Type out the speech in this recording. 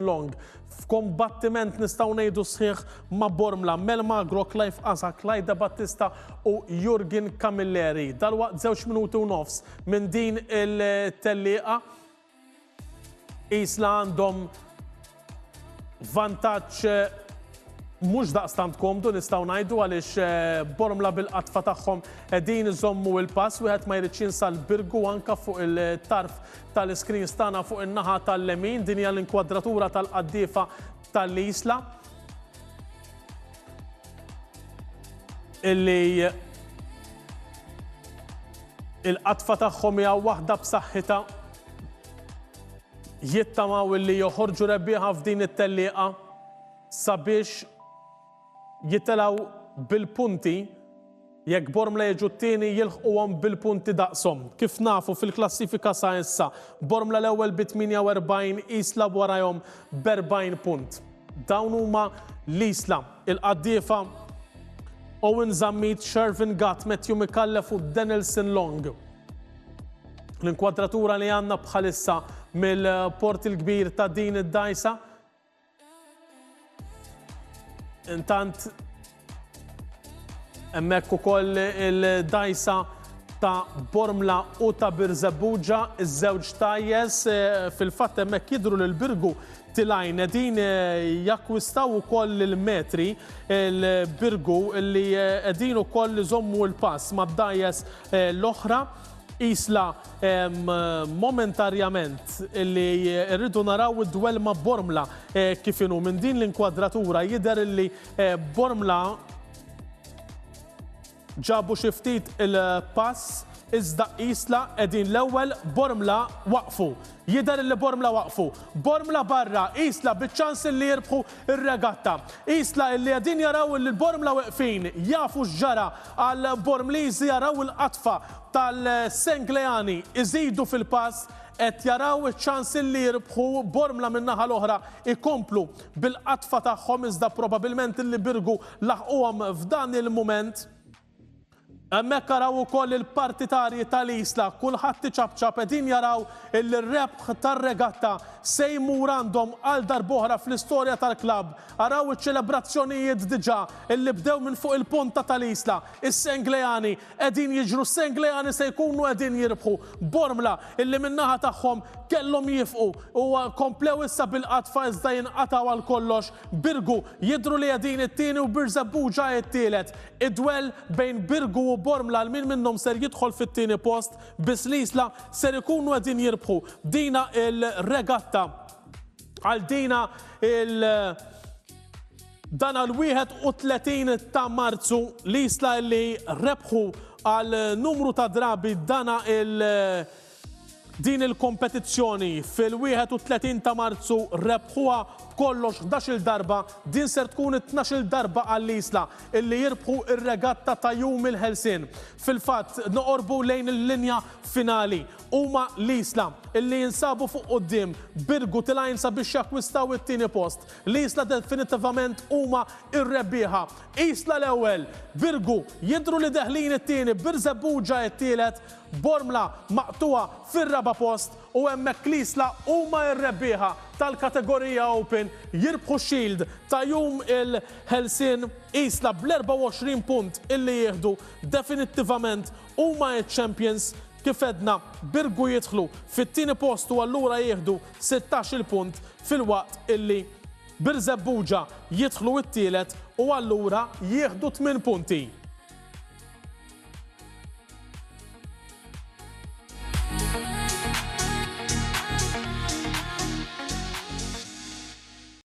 Long, f'kombattiment nistgħu ngħidu sħiħ ma' Bormla, Melma Agro, Clive Asa, Clyde De Battista u Jurgen Camilleri. Dalwaqt żewġ minuti u nofs minn din il-tellieqa isla għandhom vantaġġ mhux daqstant komdu nistgħu ngħidu għaliex eh, bormla bil-qatfa tagħhom qegħdin iżommu il-pass wieħed ma jridx jinsa l-birgu anka fuq il-tarf tal-iscreens tagħna fuq in-naħa tal-lemin, din hija l-inkwadratura tal-qaddiefa tal-Isla illi il-qatfa tagħhom hija waħda b'saħħitha jittamaw illi joħorġu rebbieħa f'din it-tellieqa sabiex jittelgħu bil-punti, jekk Bormla jiġu t-tieni jilħquhom bil-punti daqshom. Kif nafu fil-klassifika sa issa, Bormla l-ewwel bi 48, Isla warajhom b'40 punt. Dawn huma l-Isla, il-Qaddiefa, Owen Zammit, Shervin Gatt, Matthew Micallef u Denilson Long. L-inkwadratura li għandna bħalissa mill-Port il-Kbir ta' din id-dgħajsa, Intant hemmhekk ukoll il-dajsa ta' Bormla u ta' Birżebbuġa, iż-żewġ tajjes eh, fil-fatt hemmhekk jidhru lil Birgu tilajn din eh, jakkwistaw ukoll il-metri il-Birgu li qegħdin eh, ukoll iżommu l-pass mad-dajjes l-oħra Qisla momentarjament li rridu naraw id-dwell ma' Bormla kif inhu. Minn din l-inkwadratura jidher li Bormla ġabu xi ftit il-pass iżda Qisla qegħdin l-ewwel Bormla waqfu. Jidher li Bormla waqfu. Bormla barra, Qisla biċ-ċans li jirbħu r-regatta. Qisla li qegħdin jaraw li l-Bormla weqfin jafu x'ġara. Għal Bormliżi araw il-qatfa tal-Sengleani iżidu fil-pass, qed jaraw iċ-ċans li jirbħu, Bormla min-naħa l-oħra jkomplu bil-qatfa tagħhom iżda probabilment li Birgu laħquhom f'dan il-mument. Hemmhekk araw ukoll il-partitarji tal-Isla, kulħadd iċapċap qegħdin jaraw li r-rebħ tar-regatta se jmur għandhom għal darb'oħra fl-istorja tal-klabb. Araw iċ-ċelebrazzjonijiet diġà illi bdew minn fuq il-ponta tal-Isla. Is-Sengleani qegħdin jiġru, s-Sengleani se jkunu qegħdin jirbħu. Bormla illi min-naħa tagħhom kellhom jifqu u komplew issa bil-qadfa iżda jinqatgħu għal kollox. Birgu jidhru li qegħdin it-tieni u Birżebbuġa t-tielet. Id-dwell bejn Birgu u Bormla għal min minnhom ser jidħol fit-tieni post, biss l-Isla ser ikunu qegħdin jirbħu dina l-regatta. Għal dina il dan għal 31 ta' Marzu li jisla li rebħu għal numru ta' drabi dana il din il-kompetizzjoni fil-31 ta' Marzu rebħuha b'kollox 11 darba din ser tkun 12 darba għal isla illi jirbħu ir-regatta ta' jum il-ħelsien. Fil-fatt noqorbu lejn il-linja finali huma l-Isla, li jinsabu fuq quddiem Birgu Tilgħajn sabiex jakkwistaw it-tieni post. L-Isla definittivament huma r-rebbieħa. Isla l-ewwel, Birgu jidhru li deħlin it-tieni, Birżebbuġa t-tielet, Bormla maqtugħa fir-raba' post u hemmhekk l-Isla huma r-rebbieħa tal-kategorija Open, jirbħu x-Shield ta' jum il-Ħelsien. Isla bl-24 punt illi jieħdu definittivament huma ċ-champions. Kif għedna, Birgu jidħlu fit-tieni post u allura jieħdu sittax-il punt filwaqt illi Birżebbuġa jidħlu t-tielet u allura jieħdu tmien punti.